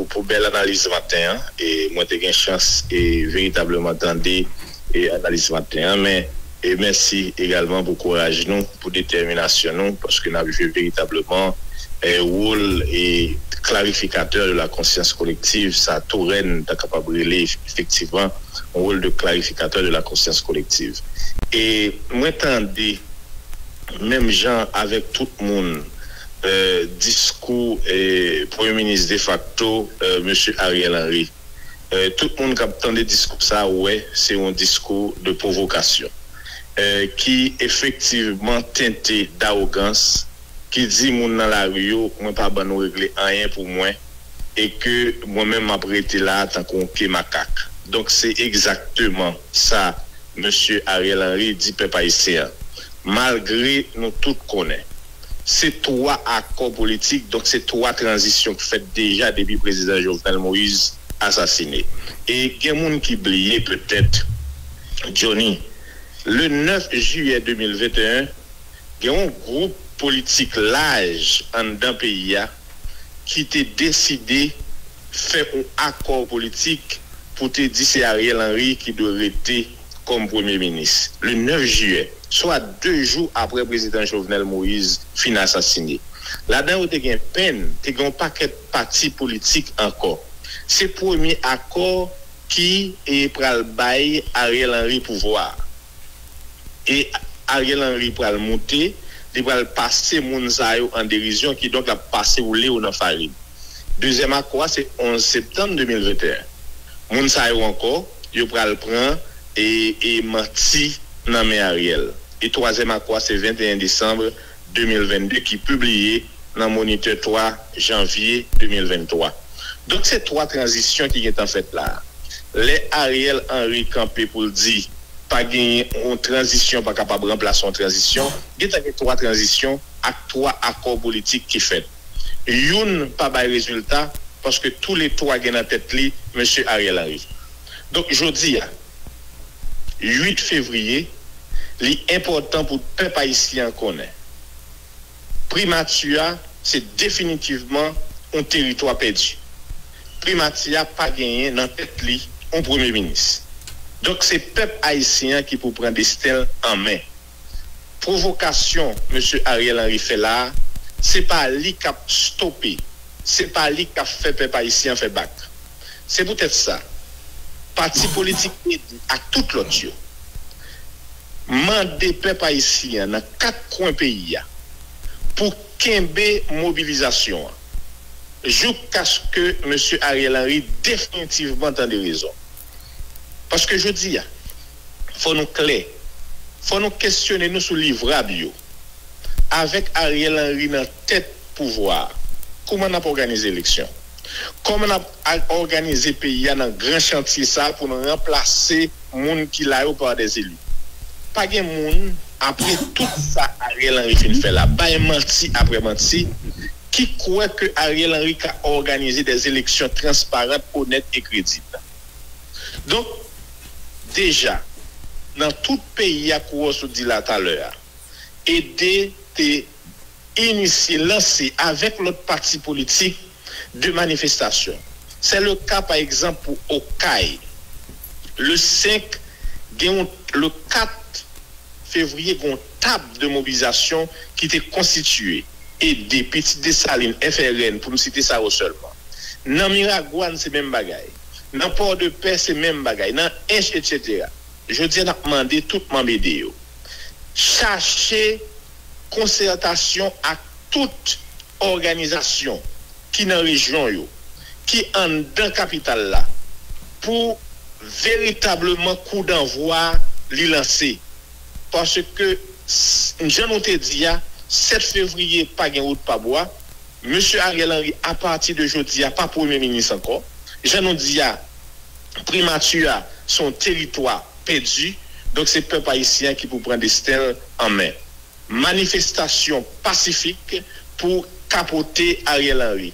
Pou bèl analiz maten an e mwen te gen chans e veritableman tande e analiz maten an men e mèsi egalman pou kouraj nou pou detèminasyon nou paske nap jwe veritableman e wol e klarifikatè de la konsyans kolektiv sa tou rèn ta kapab rele efektivman yon wol de klarifikatè de la konsyans kolektiv e mwen tande menm jan avèk tout moun. diskou premye minis defakto mesye Ariel Henry. Tout moun kap tande diskou sa wè se yon diskou de pwovokasyon ki efektivman tente dawogans ki di moun nan lari yo mwen pa ban nou regle anyen pou mwen e ke mwen menm map rete la tankou yon pye makak. Donk se egzakteman sa mesye Ariel Henry di pèp ayisyen an malgre nou tout konnen. se 3 akò politik, donk se 3 tranzisyon k fèt deja depi prezidan Jovenel Moise asasine. E gen moun ki bliye petèt, Johnny, le 9 jiyè 2021, gen yon gwoup politik laj anndan peyi a ki te deside fè yon akò politik pou te di se Ariel Henry ki dwe rete kòm premye minis, le 9 jiyè, swa 2 jou aprè prezidan Jovenel Moise fin asasine. Ladan yo te gen pen, te gen yon pakèt pati politik ankò. Se premye akò ki pral bay Ariel Henry pouvwa a. E Ariel Henry pral moute, li pral pase moun sa yo an derizyon, kidonk l ap pase woule yo nan farin. Dezyèm akò a se 11 septanm 2021. Moun sa yo ankò yo pral pran e e manti nan men Ariel e twazèm akwa se 21 desanm 2022 ki pibliye nan monitè 3 janvye 2023 donk se 3 tranzisyon ki gentan fèt la a lè Ariel Henry kanpe pou l di pa genyen yon tranzisyon pa kapab ranplase yon tranzisyon gentan gen 3 tranzisyon ak 3 akò politik ki fèt. youn pa bay rezilta paske tou le twa gen nan tèt li Mesye Ariel Henry. Donk jodi a 8 fevriye li enpòtan pou pèp ayisyen an konnen Primati a se definitivman on teritwa pèdi. Primati a pa genyen nan tèt li on premye minis. Donk se pèp ayisyen an ki pou pran desten l an men. Pwovokasyon Mesye Ariel Henry fè la a, se pa li k ap stope, se pa li k ap fè pèp ayisyen an fè bak. Se poutèt sa, pati politik ed ak tout lòt yo mande pèp ayisyen an nan kat kwen peyi a pou kenbe mobilizasyon an joukaske Mesye Ariel Henry definitivman tande rezon. Paske jodi a. Fò nou klè. Fò nou kesyone nou sou livrab yo. Avèk Ariel Henry nan tèt pouvwa a, kouman n ap òganize eleksyon? Kòman n ap òganize peyi a nan gran chantye sa a pou n ranplase moun ki la yo pa des élus? Pa gen moun, apre tout sa Ariel Henry fin fè la, bay manti apre manti, ki kwè ke Ariel Henry ka òganize des eleksyon transparant, onèt e kredib. Donk, deja, nan tout peyi a kou w sot di la talè a, ede te inisye, lanse avèk lòt pati politik de manifestasyon. Sè le ka pa egzanp pou Okay. Le 5 gen yon, le 4 fevriye gen yon. Tab de mobilizasyon ki te konstitiye, ede, Pitit Desalin, FRN, pou m site sa yo sèlman. Nan Miragwàn se menm bagay. Nan Pòdepè se menm bagay. Nan Ench etsetera. Jodi a n ap mande tout manm ede yo chache konsètasyon ak tout òganizasyon ki nan rejyon yo, ki anndan kapital la pou veritableman kou danvwa li lanse. paske jan nou te di a 7 fevriye pa gen wout pa bwa, mesye Ariel Henry a pati de jodi a pa premye minis ankò, jan nou di a primati a se yon teritwa pèdi, donk se pèp ayisyen an ki pou pran desten l an men. Manifestasyon pasifik pou kapote Ariel Henry.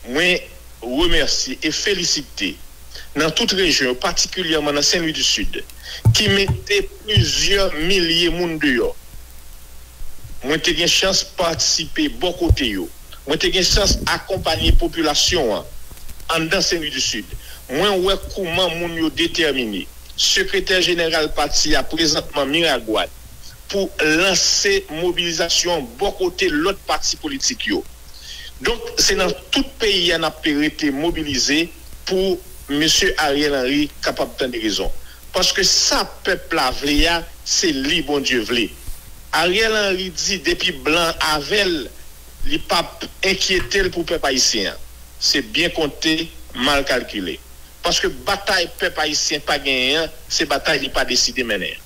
Mwen remèsye e felisite nan tout rejyon yo patikilyèman nan Sen Lwi di Sid ki mete plizyè milye moun deyò. Mwen te gen chans patisipe bò kote yo. Mwen te gen chans akonpanye popilasyon an anndan Sen Lwi di Sid. Mwen wè kouman moun yo detèmine. Sekretè jeneral pati a prezantman Miragwàn, pou lanse mobilizasyon an bò kote lòt pati politik yo. Donk se nan tout peyi a n ap rete mobilize pou mesye Ariel Henry kapab tande rezon. Paske sa pèp la vle a se li Bondye vle. Ariel Henry di depi blan avè l li p ap enkyete l pou pèp ayisyen an. Se byen konte, mal kalkile. Paske batay pèp ayisyen pa genyen an se batay li pa deside mennen an.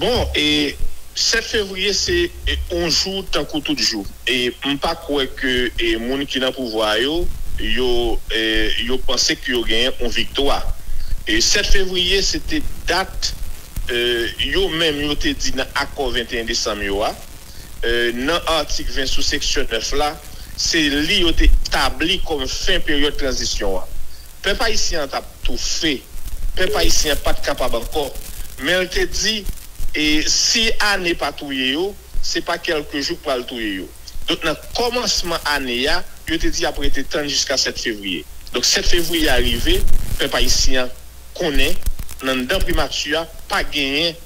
Bon e 7 fevriye se yon jou tankou tout jou e m pa kwè ke moun ki nan pouvwa a yo yo panse ke yo genyen yon viktwa. 7 fevriye se te dat yo menm yo te di nan akò 21 desanm yo a. nan atik 20 sou seksyon 9 la, se li yo te tabli kòm fen peryòd tranzisyon an. Pèp ayisyen an t ap toufe, pèp ayisyen an pa t kapab ankò, men l te di, si ane pa touye yo, se pa kèlke jou k pral touye yo. Donk nan kòmansman ane a, yo te di y ap rete tann jiska 7 fevriye. Donk 7 fevriye a rive, pèp ayisyen an konnen, nan anndan primati a, pa genyen.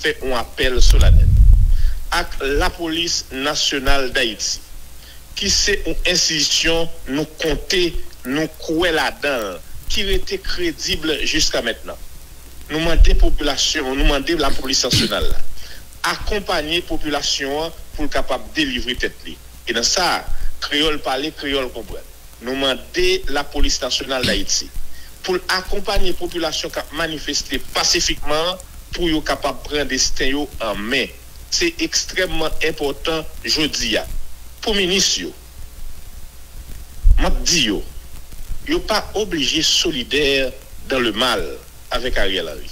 fè on apèl solanèl ak Lapolis Nasyonal Dayiti, ki se on enstitisyon nou konte, nou kwè ladan l, ki rete kredib jiskamentnan. Nou mande popilasyon an, nou mande Lapolis Nasyonal la, akonpanye popilasyon an pou l kapab delivre tèt li. E nan sa, kreyòl pale, kreyòl konprann. Nou mande Lapolis Nasyonal Dayiti pou l akonpanye popilasyon k ap manifeste pasifikman an pou yo kapab pran desten yo an men. Se ekstrèmman enpòtan jodi a pou minis yo. M ap di yo, yo pa oblije solidè dan le mal. avèk Ariel Henry.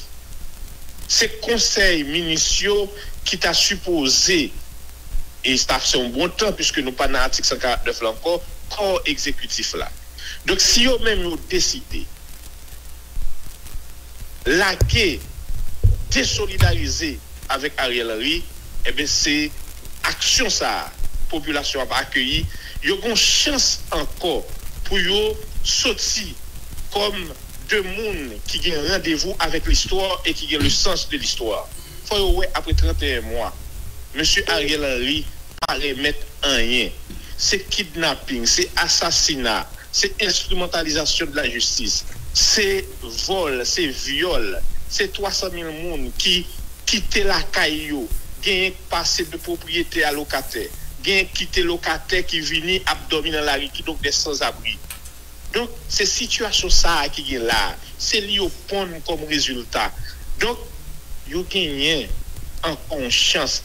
Se konsèy minis yo ki ta sipoze e sa fè yon bon tan piske nou pa nan atik 149 la ankò kò egzekitif la. Donk si yo menm yo deside lage, desolidarize. avèk Ariel Henry enben se aksyon sa a popilasyon ap akeyi yo gon chans ankò pou yo soti kòm de moun ki gen randevou avèk listwa e ki gen le sans de listwa fò yo wè apre 31 mwa mesye Ariel Henry pa remèt anyen se kidnaping se asasina se enstrimantalizasyon de la jistis se. vòl, se vyòl, se 300 mil moun ki kite lakay yo, genyen k pase de pwopriyetè a lokatè, genyen k kite lokatè ki vini ap dòmi nan lari kidonk dè sanzabri. Donk se sitiyasyon sa a ki gen la a, se li yo ponn kòm rezilta. Donk. Yo genyen ankò yon chans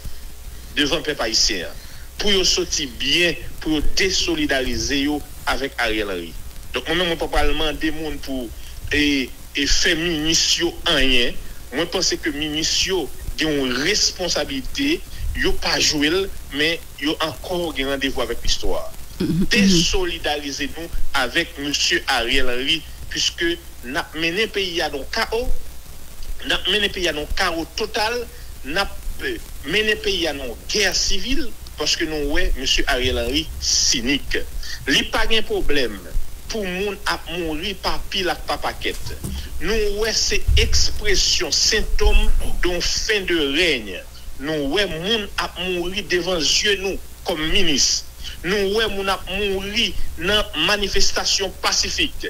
devan pèp ayisyen an pou yo soti byen, pou yo desolidarize yo avèk Ariel Henry. Donk mwen menm mwen pa pral mande moun pou e fè minis yo anyen. Mwen panse ke minis yo gen yon responsabilite yo pa jwe l men yo ankò gen randevou avèk listwa. Desolidarize nou avèk mesye Ariel Henry puiske n ap mennen peyi a nan yon kawo, n ap mennen peyi a nan yon kawo total. nap mennen peyi a nan yon gè sivil paske nou wè mesye Ariel Henry sinik li pa gen pwoblèm pou moun ap mouri pa pil ak pa pakèt nou wè se ekspresyon sentom don fen de règn nou wè moun ap mouri devan zye nou kòm minis nou wè moun ap mouri nan manifestasyon pasifik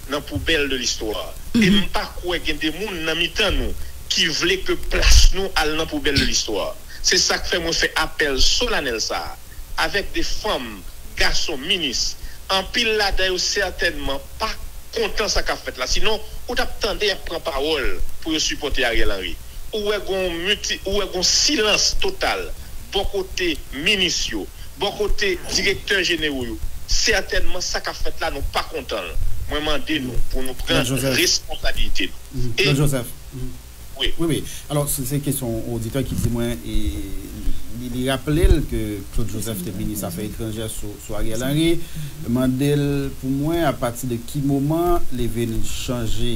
nan poubèl de listwa e m pa kwè gen de moun nan mitan nou ki vle ke plas nou al nan poubèl de listwa. Se sa k fè mwen fè apèl solanèl sa a avèk de fanm, gason, minis, anpil ladan yo sètènman pa kontan sa k ap fèt la sinon ou t ap tande y ap pran pawòl pou yo sipòte Ariel Henry. ou wè gon muti ou wè gon silans total bò kote minis yo bò kote direktè jenero yo sètènman sa kap fèt la nou pa kontan l mwen mande nou pou nou pran responsabilite nou e. Wi wi alò se kesyon oditè ki di mwen e li raple l ke Claude Joseph te minis afè etranjè sou Ariel Henry mande l pou mwen apati de ki moman li vin chanje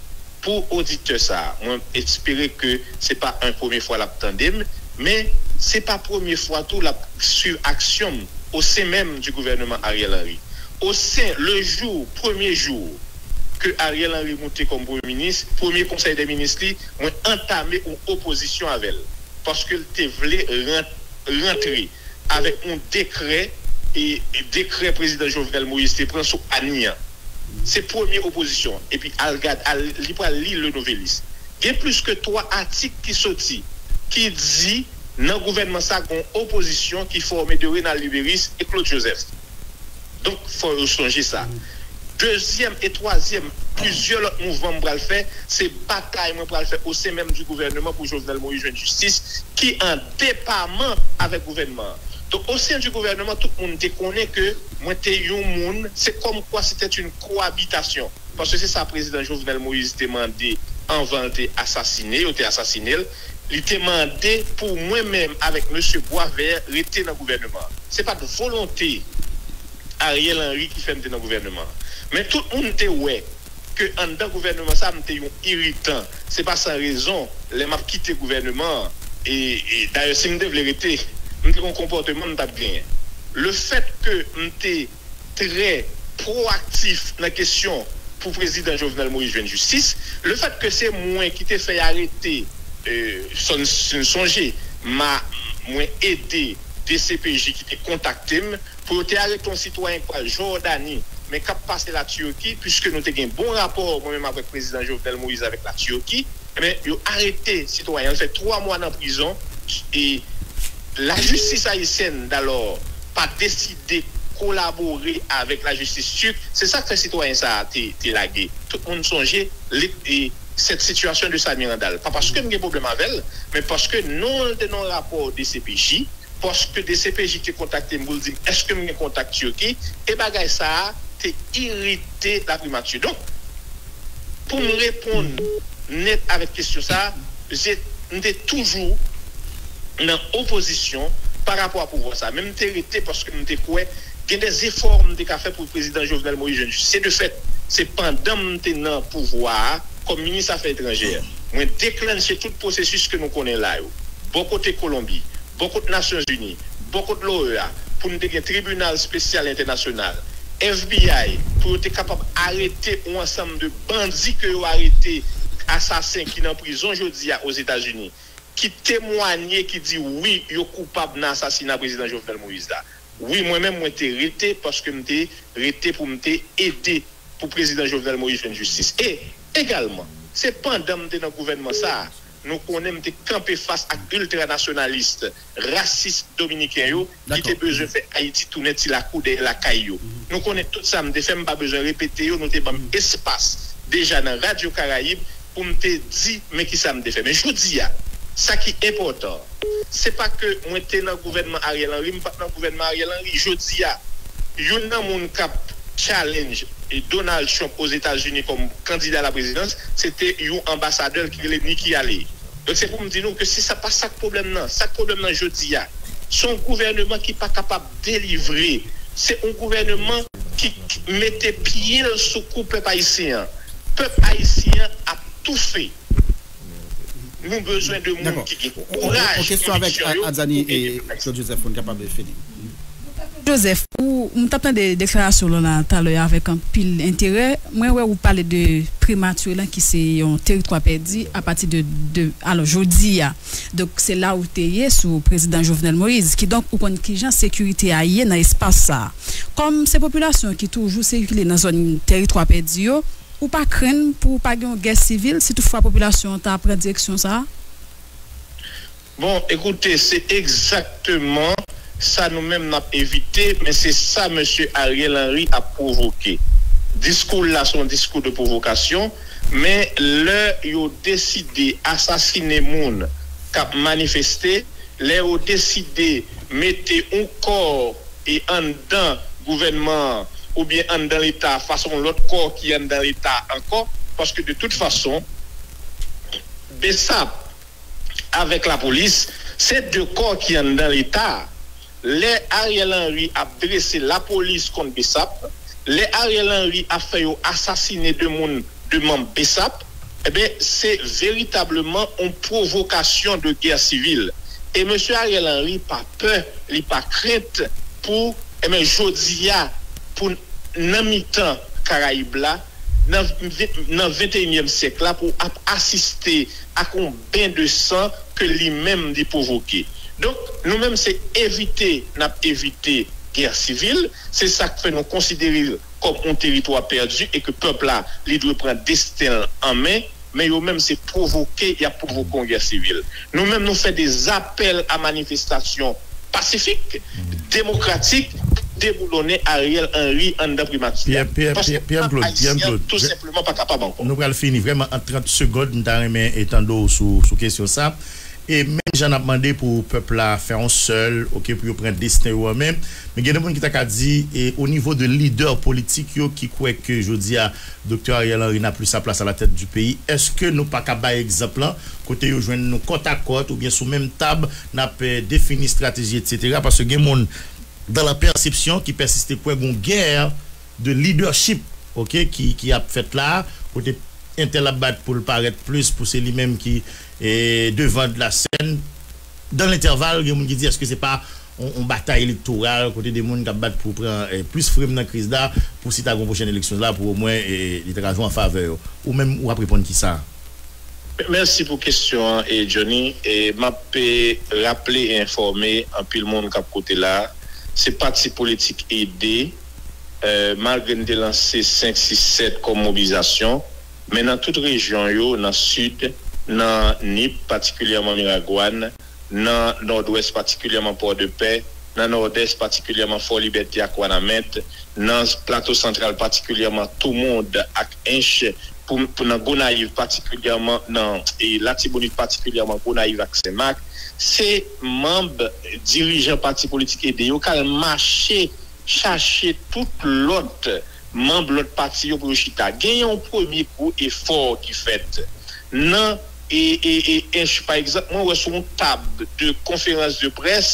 Pou oditè sa, mwen espere ke se pa en premye fwa lap tande m, men se pa premye fwa tou lap swiv aksyon m o sen menm di gouvèneman Ariel Henry. O sen le jou, premye jou ke Ariel Henry moute kòm premye minis, premye konsèy dè minis li, mwen antame yon opozisyon avè l, paske l te vle rantre avèk yon dekrè, dekrè prezidan Jovenel Moïse te pran sou Anie an. Se premye opozisyon epi al gad al li pral li Le Nouvelliste. Gen plis ke 3 atik ki soti ki di nan gouvènman sa gon opozisyon ki fòme de Rénald Lubérice e Claude Joseph. Donk fò yo sonje sa. Dezyèm e twazyèm plizyè lòt mouvman m pral fè se batay mwen pral fè osen menm di gouvèneman pou Jovenel Moïse jwenn jistis ki an depaman avèk gouvènman an. Donk o sen di gouvèneman tout moun te konnen ke mwen te yon moun, se kòm kwa se tè yn koabitasyon, paske se sa prezidan Jovenel Moïse te mande anvan l te asasine, yo te asasine l, li te mande pou mwen menm avèk mesye Boisvert rete nan gouvèneman an. Se pa t volonte Ariel Henry ki fè m te nan gouvèneman an. Men tout moun te wè ke anndan gouvèneman sa m te yon iritan. Se pa san rezon, lè m ap kite gouvèneman an, e dayè si m te vle rete, m te gen yon konpòteman m t ap genyen. Lefèt ke m te trè pwoaktif nan kesyon pou Prezidan Jovenel Moïse jwenn jistis, lefèt ke se mwen ki te fè y arete Sonson, si n sonje, mwen ede dcpj ki te kontakte m Pwotè a ret yon sitwayen k pral Jòdani, men k ap pase Latirki, piske nou te gen bon rapò mwen menm avèk Prezidan Jovenel Moïse avèk Latirki, enben yo arete sitwayen an, li fè 3 mwa nan prizon e lajistis ayisyèn dalò pa deside kolabore avèk lajistis tirk, se sa k fè sitwayen sa a te lage. Tout moun sonje lit e cette situation de Samir Handal, pa paske m gen pwoblèm avè l, men paske non l te nan rapò dcpj. paske dcpj te kontakte m pou l di m èske m gen kontak Turquie e bagay sa a te irite laprimati. Donk, pou m reponn nèt avèk kesyon sa a, je m te toujou nan opozisyon pa rapò a pouvwa sa a. Men m te rete paske m te kwè gen de zefò m te ka fè pou prezidan Jovenel Moïse jwenn jistis. Se de fèt, se pandan m te nan pouvwa a kòm minis afè etranjè, mwen deklannche tout pwosesis ke nou konnen la yo. bò kote Kolonbi, bò kot Nasyonzini, bò kot l'OEA, pou nou te gen tribinal spesyal entènasyonal, FBI, pou yo te kapab arete yon ansanm de bandi ke yo arete, asasen ki nan prizon jodi a Ozetazini, ki temwanye, ki di wi yo koupab nan asasina Prezidan Jovenel Moïse la. Wi mwen menm mwen te rete paske m te rete pou m te ede pou Prezidan Jovenel Moïse jwenn jistis. E egalman, se pandan m te nan gouvènman sa a Nou konnen m te kanpe fas ak iltranasyonalist, rasis dominiken yo ki te bezwen fè Ayiti tounen ti lakou dèyè lakay yo. Nou konnen tout sa m te fè, m pa bezwen repete yo, nou te ban m espas deja nan Radyo Karayib pou m te di men ki sa m te fè. Men jodi a, sa ki enpòtan an, se pa ke mwen te nan gouvènman Ariel Henry, m pa t nan gouvènman Ariel Henry. Jodi a, youn nan moun k ap. challenge Donald Trump Ozetazini kòm kandida la prezidans, se te yon anbasadè l ki rele Nikki Haley. Donk se pou m di nou ke si sa pa sa k pwoblèm nan, sa k pwoblèm nan jodi a, se yon gouvèneman ki pa kapab delivre, se yon gouvèneman ki mete pye l sou kou pèp ayisyen an. Pèp ayisyen an ap toufe. Nou bezwen de moun ki gen kouraj, konviksyon yo pou ede pèp ayisyen. Claude Joseph pou n kapab fini. Claude Joseph, ou, m tap tande deklarasyon w lan la talè a avèk anpil enterè. Mwen wè ou pale de Prematire lan ki se yon teritwa pèdi a pati de de alò jodi a. Donk se la ou te ye sou Prezidan Jovenel Moïse. Kidonk ou konn kijan sekirite a ye nan espas sa a. Kòm se popilasyon ki toujou sikile nan zòn teritwa pèdi yo, Ou pa krenn pou pa gen yon gè sivil si tout fwa popilasyon an ta pran direksyon sa a? Bon, ekoute, se egzakteman sa nou menm n ap evite, men se sa mesye Ariel Henry ap pwovoke. Diskou l la se yon diskou de pwovokasyon, men lè yo deside asasine moun k ap manifeste, Lè yo deside mete yon kò e anndan gouvènman an oubyen anndan leta a fas yon lòt kò ki anndan leta a ankò paske de tout fason bsap avèk lapolis se de kò ki anndan leta a. Lè Ariel Henry ap drese lapolis kont bsap, lè Ariel Henry ap fè yo asasine de moun de manb bsap, Ebyen se veritableman on pwovokasyon de gè sivil e mesye Ariel Henry pa pè li pa krent pou ebyen jodi a pou nan mitan karayib la nan venteyinyèm syèk la pou ap asiste ak on ben de san ke li menm li pwovoke. Donk nou menm se evite nap evite gè sivil se sak fè nou konsidere kòm on teritwa pèdi e ke pèp la li dwe pran desten l an men, men yo menm se pwovoke y ap pwovoke on gè sivil. Nou menm nou fè de zapèl a manifestasyon pasifik, demokratik pou deboulonnen Ariel Henry anndan Primati a. Paske pèp Ayisyen an tou senpleman pa kapab ankò. Nou pral fini vrèman an 30 segond m ta renmen tande w sou kesyon sa. E menm jan nap mande pou pèp la fè on sèl ok pou yo pran desten yo an men, men gen de moun ki ta ka di e o nivo de lidè politik yo ki kwè ke jodi a Doktè Ariel Henry n'a plus sa plas a la tèt di peyi, èske nou pa ka bay egzanp lan kote yo jwenn nou kòt a kòt oubyen sou menm tab nap defini estrateji etc. Paske gen moun dan la pèsepsyon ki pèsiste kwè gon gè. de leadership ok ki ap fèt la kote entèl ap bat poul parèt plis pou se li menm ki devan de la sèn dan lentèval gen moun ki di eske se pa yon batay elektoral kote de moun kap bat pou pran plis frem nan kriz la pou si ta gon pwochèn eleksyon la pou omwen li ta ka jwe an favè yo ou menm ou ap reponn ki sa? Mèsi pou kesyon an Johnny map raple e enfòme anpil moun kap koute la se pati politik ede. Malgre n te lanse 5, 6, 7 kòm mobilizasyon, men nan tout rejyon yo, nan Sid, nan Nip, patikilyèman Miragwàn, nan Nòdwès, patikilyèman Pòdepè, nan Nòdès, patikilyèman Fòlibète ak Wanament, nan Plato Santral, patikilyèman Toumond ak Ench, pou nan Gonayiv, patikilyèman nan Latibonit, patikilyèman Gonayiv ak Senmak, se manb, dirijan pati politik ede yo k al mache. chache tout lòt manb lòt pati yo pou yo chita gen yon premye gwo efò ki fèt nan ench pa egzanp mwen wè sou yon tab de konferans de près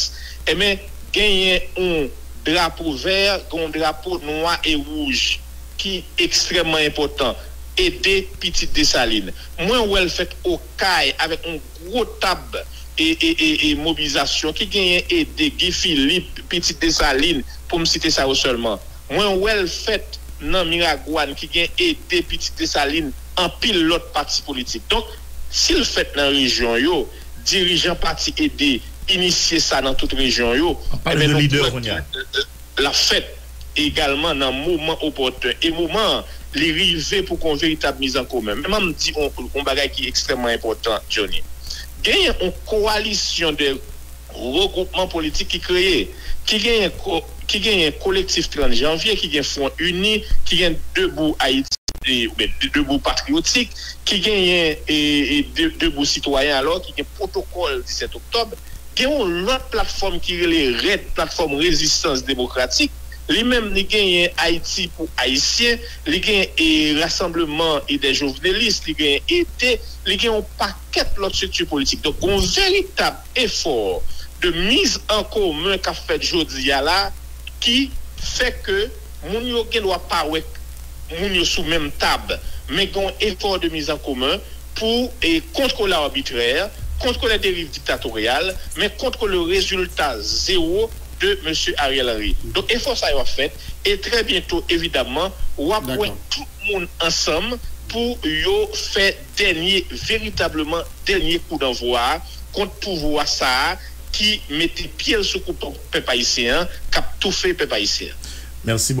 enben genyen yon drapo vè gen yon drapo nwa e wouj ki ekstrèman enpòtan ede pitit desalin mwen wèl fèt okay avèk yon. gwo tab e mobilizasyon ki genyen ede Guy Philippe, pitit Desalin, pou m site sa yo sèlman. Mwen wè l fèt nan Miragwàn ki gen ede pitit Desalin anpil lòt pati politik. Donk, si l fèt nan rejyon yo, dirijan pati ede inisye sa nan tout rejyon yo, e ben nou kwè ke l ap fèt. egalman nan moman opòten e moman an li rive pou kon veritab miz an komen. Men banm di on bagay ki ekstrèmman enpòtan Johnny. Genyen on kowalisyon de regwoupman politik ki kreye. Ki genyen ki genyen Kolektif 30 Janvye, ki gen Fwon Ini, ki gen Debou Ayiti oubyen Debou Patriyotik, ki genyen e Debou Sitwayen alò ki gen Pwotokòl 17 Oktòb. Gen yon lòt platfòm ki rele redd, Platfòm Rezistans Demokratik, li menm li genyen Ayiti pou Ayisyen, li gen Rasanbleman Idè Jovnelis, li gen ET, li gen yon pakèt lòt strikti politik. Donk gen yon veritab efò de miz an komen k ap fèt jodi a la ki fè ke moun yo gen dwa pa wè moun yo sou menm tab men gen yon efò de miz an komen. pou e kontwole arbitrè, kontwole deriv diktatoryal, men kontwole rezilta zewo de Mesye Ariel Henry. Donk efò sa yo ap fèt e trè byento evidamman w ap wè tout moun ansanm pou yo fè dènye, veritableman dènye kou danvwa a kont pouvwa sa a ki mete pye l sou kouto pèp ayisyen an, k ap toufe pèp ayisyen an.